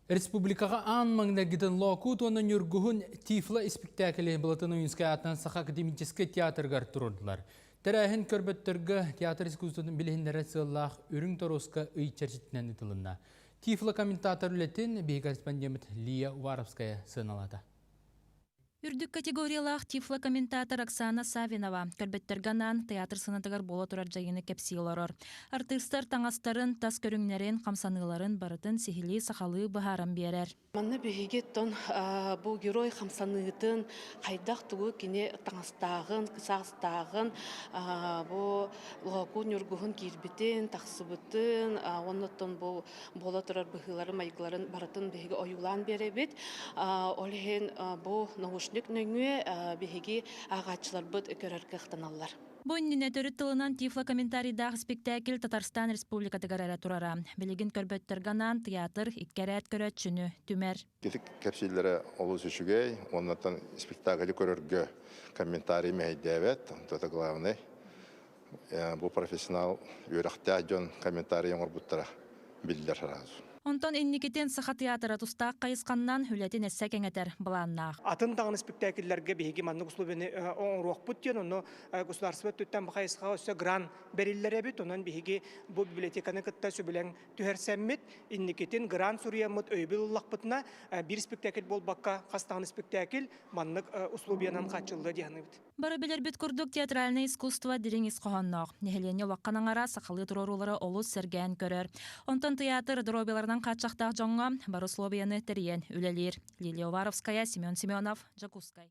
Республикаҕа аан маҥнайгытын Лоокуут уонна Ньургуһун Тифла испиктээкили Былатын Уйунскай аатынан Саха академическай театрыгар туруордулар. Тэрээһин көрбөттөргө театр искусствотын билиһиннэрэр сыаллаах үрүҥ торуоска ый чэрчитинэн ыытылынна. Тифла комментатор үлэтин биһи корреспондент Лия Уваровская сыаналаата. Үрдүк категориялаах тифлокомментатор Оксана Савинова көрбөттөргө анаан тыйаатыр сыанатыгар буола турар дьайыыны кэпсии олорор. Артыыстар таҥастарын, тас көрүҥнэрин, хамсаныыларын барытын сиһилии сахалыы быһааран биэрэр. Манна биһиги тон бу герой хамсаныытын, хайдах тугу кини таҥастааҕын, саастааҕын, бу Лоокуун Ньургуһун киирбитин, тахсыбытын, оннуттан бу буола турар быһыыларын-майгыларын барытын биһиги ойуулаан биэрэбит. Ол иһин бу наушник нөҥүө биһиги ааҕааччыларбыт көрөр кыахтаналлар. Бу иннинэ төрүт тылынан Тифло комментарийдаах испиктээкил Татарстан Республикатыгар эрэ турара. Билигин көрбөттөргө анаан тыйаатыр, икки эрээт көрөөччүнү түмэр. Ититик кэпсииллэрэ олус үчүгэй, оннуттан спектакли көрөргө комментарий мэһэйдээбэт. Это главное. Бу профессионал үөрэхтээх дьон комментарий оҥорбуттара биллэр сразу. Онтон инникитин Саха театра тустаах хайысханнан үлэтин өссө кэҥэтэр былааннаах. Атын даҕаны спектакльлэргэ биһиги маннык условияны оҥоруохпут диэн, ону государство өттүттэн бу хайысхаҕа өссө грант бэриллэр эбит. Онон биһиги бу библиотеканы кытта сөбүлэҥ түһэрсэммит, инникитин грант суруйаммыт өйөбүл ыллахпытына, биир спектакль буолбакка, хастаан спектакль маннык условиянан хааччыллыа диэханыбыт. Бары билэрбит курдук, театральное искусство дириҥ ис хоһоонноох. Нэһилиэнньэ улаххан аҥара сахалыы туруоруулара олус сэргээн көрөр. Онтон тыйаатыр доруобуйаларынан хааччахтаах дьоҥҥо бар услуобуйаны тэрийэн үлэлиир. Лилия Уваровская, Семен Семенов, Дьокуускай.